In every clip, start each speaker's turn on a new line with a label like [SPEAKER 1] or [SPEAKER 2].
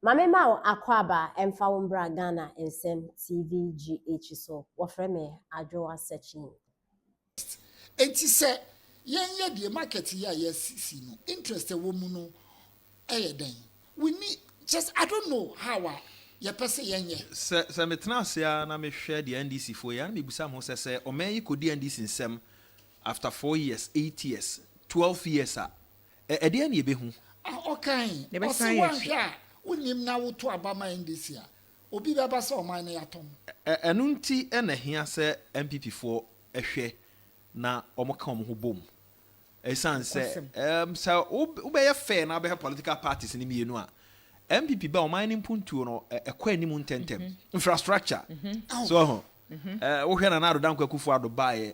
[SPEAKER 1] Ma me ma wo akwaaba ɛmfa wo mbra Ghana nsɛm TV GH so wɔfrɛ me Adwoa Sekyeen.
[SPEAKER 2] Enti sɛ yɛn yɛ deɛ market yi a yɛasisi no interest a ɛwɔ mu no yɛ dɛn? We need kyerɛ sɛ I don't know how a yɛpɛ sɛ yɛn yɛ. Sɛ sɛ metena ase
[SPEAKER 3] ara na mehwɛ deɛ NDC foɔ yɛ a na mebisa me ho sɛ sɛ ɔman yi kɔdi NDC nsam after four years, eight years, twelve years a Ɛ, ɛdeɛn na yɛbɛhu? A ɔkae,
[SPEAKER 2] ɔse woanhwɛ a wonnim na woto aba ma NDC a, obi bɛba sɛ ɔman no yɛatɔ mo? Ɛ, ɛno nti
[SPEAKER 3] na ɛhia sɛ NPP foɔ hwɛ na wɔka wɔn ho bom. Ɛsiane sɛ, ɛ, sɛ wobɛyɛ fair na wobɛhwɛ political parties no mmienu a, NPP ba a, ɔman no mpuntuo no, ɛ, ɛkɔ anim ntɛntɛm. Infrastructure, so ho. Ɛ, wohwɛ Nana Addo Dankwa Akufo-Addo baeɛ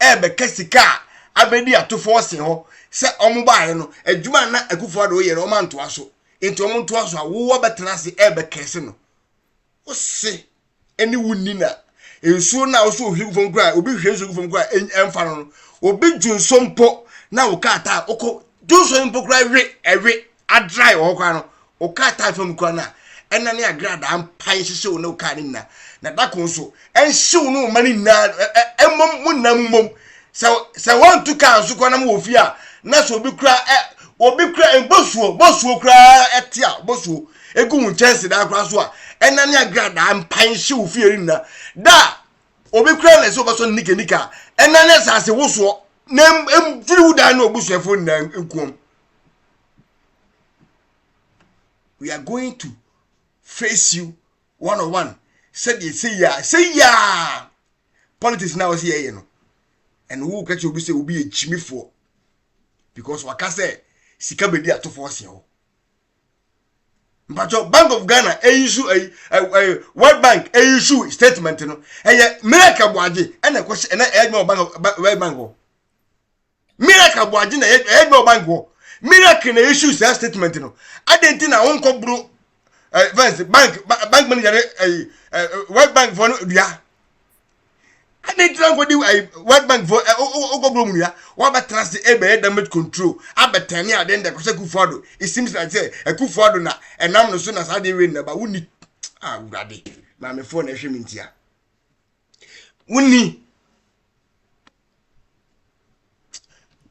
[SPEAKER 4] ɛrebɛka sika a abɛdi atofo ɔse hɔ sɛ ɔmo baeɛ no, adwuma a na Akufo Addo reyɛ no ɔmo antoa so, nti ɔmo ntoa so a wo wabɛtena ase ɛrebɛkɛse no. Wo se ɛne wo nni na nsuo no a wo se ohwie gu fam koraa obi hwie nsuo gu fam koraa ɛn- ɛmfa no no, obi dwonsɔ mpo na wo kaa taa wokɔ dwonsɔ no mpo koraa we ɛwe Adrae wɔ hɔ koraa no, wo kaa tae fam koraa no a, ɛna ne agradaa mpae hyehyɛ wo ne wo kaa no nyinaa, na da ko nso, ɛnhye wo ne wo mma no nyinaa, mmom mo nna mu mmom. Sɛ sɛ wɔantu kaa nso koraa na mowɔ fie a, na sɛ obi koraa ɛ, obi koraa mbosuo, bosuo koraa ɛte a, bosuo egu wo nkyɛnsedan koraa so a, ɛna ne agradaa mpae hye wo fie no nyinaa. Da a obi koraa na ɛsɛ ɔbɛsɔ ne nika nika a, ɛna ne asase wosoɔ, na mfiri wo dan ne w'abusuafoɔ nyinaa nkuom. we are going to face you one on one sɛdeɛ sɛ yia sɛ yia politics na wɔsi yɛyɛ no ɛna wo kɛkyɛ obi sɛ obi yɛ kyimifoɔ because waka sɛ sika bɛdi atofoɔ seɛ hɔ mpatsɔ bank of ghana eyisu ɛyi ɛɛ world bank eyisu statement no ɛyɛ miracle buagye ɛna ɛkɔhyɛ ɛna ɛyɛ adwuma wɔ bank of world bank hɔ miracle aboagye na ɛyɛ ɛyɛ adwuma wɔ bank hɔ miracle na issue saa statement no adɛn nti na wonkɔ boro ɛɛ fɛnse bank bank manager ne ɛyi ɛɛ world bank fɔ no dua adɛn nti na wonkɔ di ɛyi world bank fɔ ɛ wokɔ boro mu dua wɔabɛtena ase ɛbɛyɛ damage control abɛtɛne adeɛ ndɛ kɔsɛ kufu ado it seems like sɛ ɛkufu ado na ɛnam no so na saa adeɛ wei nnaba wonni awurade maamefoɔ na ɛhwɛ me ntia wonni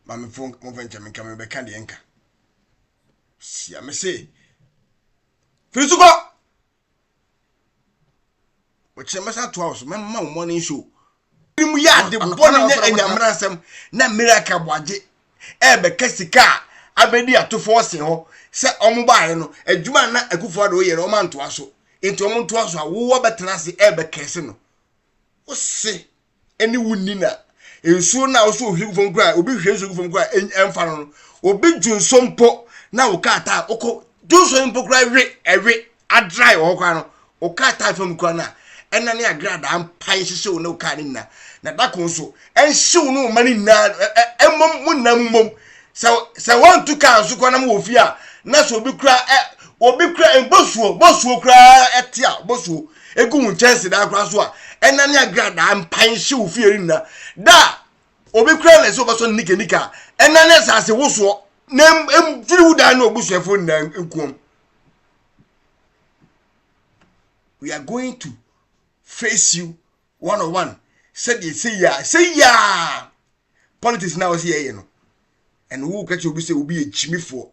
[SPEAKER 4] mamefo momfa nkyɛ menka mebɛka deɛ nka sia me se firi so kɔ wɔkyerɛ mɛsa atoa wo so mɛma wo morning show mu yɛ ade bɔne nyɛ anyamera nsɛm na miracle boagye ɛbɛka sika a abɛdi atofoɔ se hɔ sɛ ɔmo baeɛ no adwuma na akufoɔ ade woyɛ no ɔma ntoa so nti ɔmo ntoa so a wowɔ bɛtena ase ɛbɛkɛse no wose ne wo nni na nsuo no a wosɛ ohwie gu fam koraa obi hwie nsuo gu fam koraa ɛmfa no no obi dwo nsuo mpo na wo kaa taa wokɔ dwo nsuo mpo koraa ɛwe ɛwe adrae wɔ hɔ koraa no wo kaa taa fam koraa no a ɛna ne agradaa mpa nhyehyɛ wo ne wo kaa no nyinaa na dako nso ɛnhyew no ma no nyinaa ɛmmom mo nyinaa mu mmom sɛ sɛ wɔntu kaa nso kɔ na mo wɔ fie a na sɛ obi kura ɛ obi kura eh, bosuo bosuo koraa ɛte a bosuo egu wo nkyɛnse daa koraa so a ɛna ne agradaa mpan hye wo fie nna da obi kura na ɛsɛ ɔbɛsɔ nika nika ɛna ne asase wosoɔ na mfiri wo daa ne obusuafo nna nkuom we are going to face you one on one sɛdeɛ sɛ yia sɛ yia politics na ɔsi yɛyɛ no ɛna wo kɛkyɛ obi sɛ obi yɛ gyimifoɔ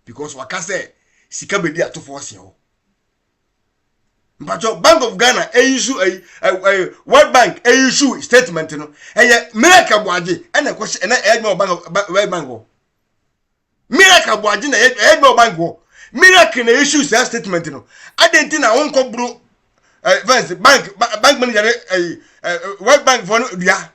[SPEAKER 4] because waka sɛ sika bɛdi atofoɔ seɛ hɔ mpakyɛ bank of ghana ɛyi su ɛyi ɛyi world bank ɛyi su statement no ɛyɛ miracle boagye ɛna ɛkɔhyɛ ɛna ɛyɛ adwuma wɔ bank of world bank hɔ miracle bɔ agye na ɛyɛ ɛyɛ adwuma wɔ bank hɔ miracle na issue saa statement no adɛn nti na wonkɔ boro ɛɛ eh, fɛs bank bank manager ɛɛ eh, eh, world bank fɔ no dua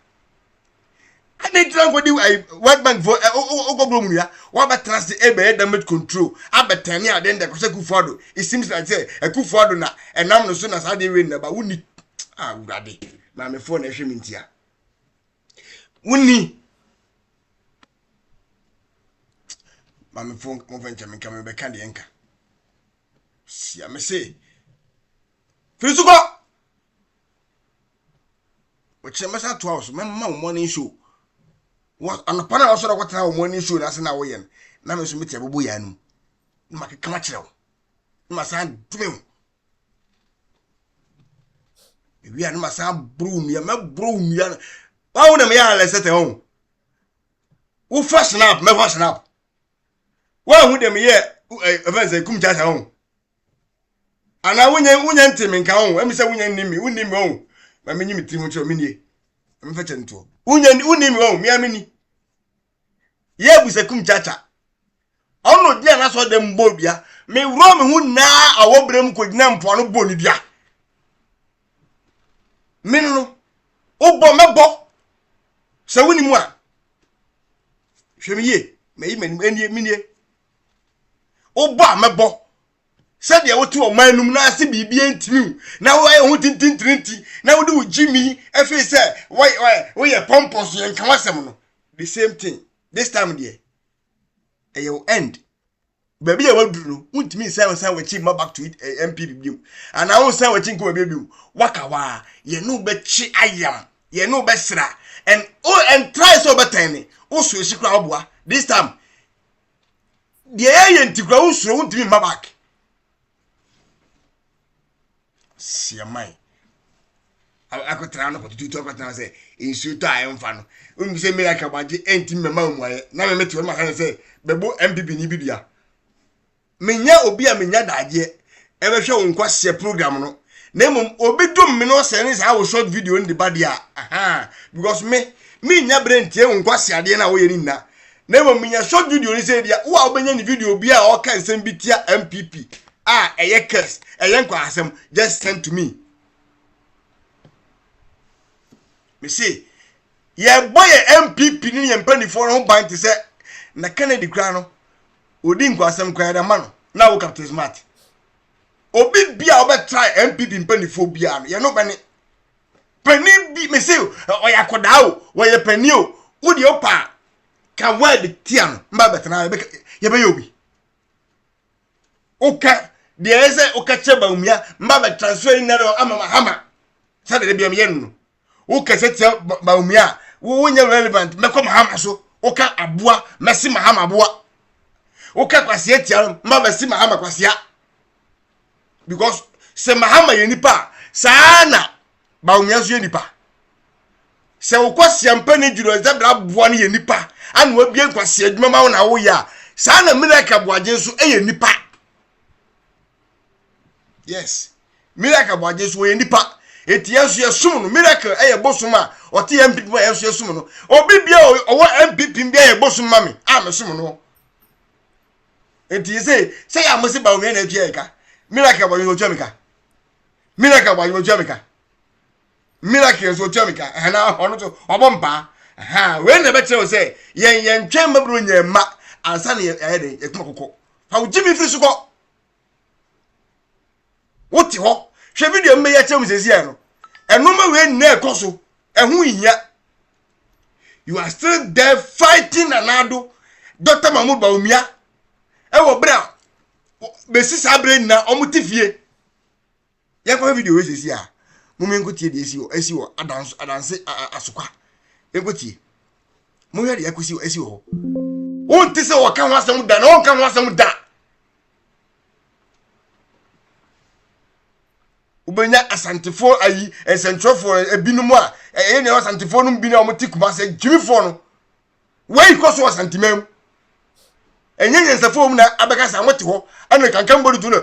[SPEAKER 4] adɛn nti na wonkɔ di ɛɛ world bank fɔ ɛɛ wokɔ boro mu dua wɔabɛtena ase ɛbɛyɛ damage control abɛtɛn ne adeɛ ndɛ kɔsɛ kufu ado it seems like sɛ ɛkufu ado na ɛnam no so na saa adeɛ wei na ba wonni awurade ah, maamefoɔ na ɛhwɛ me ntia wonni Mamefo mofɛ nkyɛ menka mebɛka deɛ nka. Sia me se. Firi so kɔ! Wɔkyerɛ mɛsa atoa wo so mɛma wo morning show. Anɔpa na wɔsɔrɔ kɔtena wo morning show na ase na woyɛ no. Na me nso mete abobo yɛ anum. Na makeka makyerɛ wo. Na masan dome wo. mewie a na masan aboro nnua mɛboro nnua no wawo na meyɛ alɛsɛtɛ ho wofa snap mɛfa snap woahu dɛ meyɛ ɛfɛn sɛ kum kyasa ho anaa wonya wonya nte me nka ho ɛmi sɛ wonya nni me wonni me ho ma menyi me tiri ho kyerɛ me nie mefɛ kyɛ ntoɔ wonya wonni me ho mea menni yɛ abusakum kyakya. Ɔno gyina n'asɔ dɛm mu bɔ dua. Me wura me ho nyinaa awɔ berɛ mu kɔgyina mpoano bɔ ne dua. Me no no, wobɔ mɛbɔ. Sɛ woni mu a, hwɛ me yie, mayi m'anim, ɛnie, menie. Wobɔ a mɛbɔ, sɛdeɛ wote ɔman no mu na ase biribiara ntini wo na woayɛ wo ho tintintirinti na wode wo gyimi afei sɛ woyɛ pɔmpɔ so yɛnka w'asɛm no the same thing this time deɛ ɛyɛ wo end baabi a waduru no wontumi nsan nsan wakyi ma back to it eh, mpp biom anaa wonsan wakyi nkɔ baabi biom waka hɔ a yɛne wobɛkye ayam yɛne wobɛsra and oh, and try sɛ wobɛtɛn ne woso akyi koraa woboa this time deɛ yɛyɛ nti kura wonsuro wontumi mma back siaman akɔtena no kɔtututu akɔtena sɛ nsuo tɔ a ɛmfa no wonim sɛ mmeri akabagye ɛnti mmɛma mu ayɛ na me mete wɔn maka ne sɛ bɛbo mpp ni bi dua menya obi a menya daagyeɛ ɛbɛhwɛ wo nkwaseɛ program no na mmom obi dom me na ɔsɛ ne saa wo short video no de ba deɛ a ahaa because me mennya berɛ ntie wo nkwaseɛ adeɛ no a woyɛ no nyina na mmom menya short video no sɛ deɛ wo a wobɛnya ne video bi a ɔka nsɛm bi tia mpp a ɛyɛ curse ɛyɛ nkwahasɛm just send to me me se yɛbɔ yɛ mpp ne yɛn mpanimfoɔ no ho ban te sɛ na kennedy koraa no odi nkwasɛm koraa na ma no na wo captain smart obi bi a ɔbɛtra npp mpanimfoɔ biara no yɛne ɔbɛne panin bi mese ɔyɛ akɔdaa o wɔyɛ panin o wode ɔpa a ka word tia no mba bɛtena yɛbɛyɛ obi woka deɛ ɛyɛ sɛ woka kyerɛ baumia mba bɛtransfer yi nnɛ no ama mahama sɛdeɛ de biam yɛ no no wokasa tia bawumia a wonyɛ relevant mɛkɔ mahama so woka aboa mɛsi mahama aboa woka kwasia tia no ma mɛsi mahama kwasia because sɛ mahama yɛ nipa a saa na bawumia nso yɛ nipa sɛ wokɔ siampa ne gyina ɔdza bra aboa no yɛ nipa ana wabie nkwasia adwuma ma wo na woyɛ a saa na miracle aboagye nso yɛ nipa yes miracle bɔ agye so wɔyɛ nipa eti yɛn nso yɛsom no miracle ɛyɛ bosom a ɔte yɛn mpp ma yɛn nso yɛsom no obi bia ɔwɔ mpp bia yɛ bosom ma me a mesom no eti yɛ sɛ sɛ yɛ amose ba onua na etua yɛ ka miracle bɔ agye so otua mi ka miracle bɔ agye so otua mi ka miracle nso otua mi ka ɛhɛn na ɔno nso ɔbɔ mpaa ɛhɛn wei na ɛbɛkyerɛ o sɛ yɛn yɛn twɛn mɛburo nyɛ mma ansa na yɛ ɛyɛ de yɛ kuma koko fa o gyi mi firi so kɔ. wote hɔ hwɛ video no bɛyɛ kyerɛ mu sɛsi ɛ no ɛnoma wei nyinaa ɛkɔ so ɛho hia you are still there fighting nanado dr mahmood baumia ɛwɔ berɛ a bɛsi saa berɛ nyinaa ɔmo te fie Yɛnkɔhwɛ video wei sɛsi a. Mom yɛnkɔtie deɛ ɛsi wɔ ɛsi wɔ adanso adanse a a asokwa. Yɛnkɔtie. Monhwɛ deɛ ɛkɔsi wɔ ɛsi wɔ hɔ. Wonte sɛ wɔka ho asɛm da na wɔnka ho asɛm da. wobɛnya asantefoɔ ayi nsɛntwerɛfoɔ ebinom a ɛyɛ nea asantefoɔ no bi na wɔte kumase gyimifoɔ no wei kɔ so wɔ santeman mu ɛnyɛ nyansafo mu na abɛka sa wɔte hɔ ɛna kankan bɔdi tu no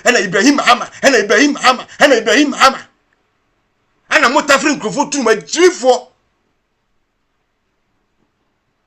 [SPEAKER 4] ɛna ibrahim mahama ɛna ibrahim mahama ɛna ibrahim mahama ɛna mo tafiri nkurɔfoɔ tunum agyirifoɔ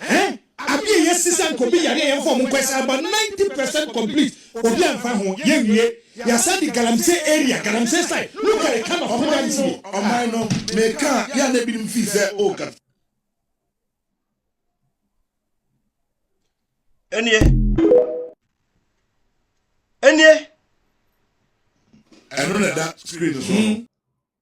[SPEAKER 5] Ɛhɛn Ade a yɛsi sɛ anka obi yare a yɛmfa ɔmo nkɔ ɛsɛ about ninety percent complete obi anfa ho yɛnwie yɛasan de Galamsey area Galamsey side look at the kind of ɔmo yare si wɔ ɔman no
[SPEAKER 6] meka a yɛ a na ebinom feel sɛ oh Galamsey.
[SPEAKER 4] Ɛnie
[SPEAKER 6] Ɛnie. Ɛno na ɛda screen no so no.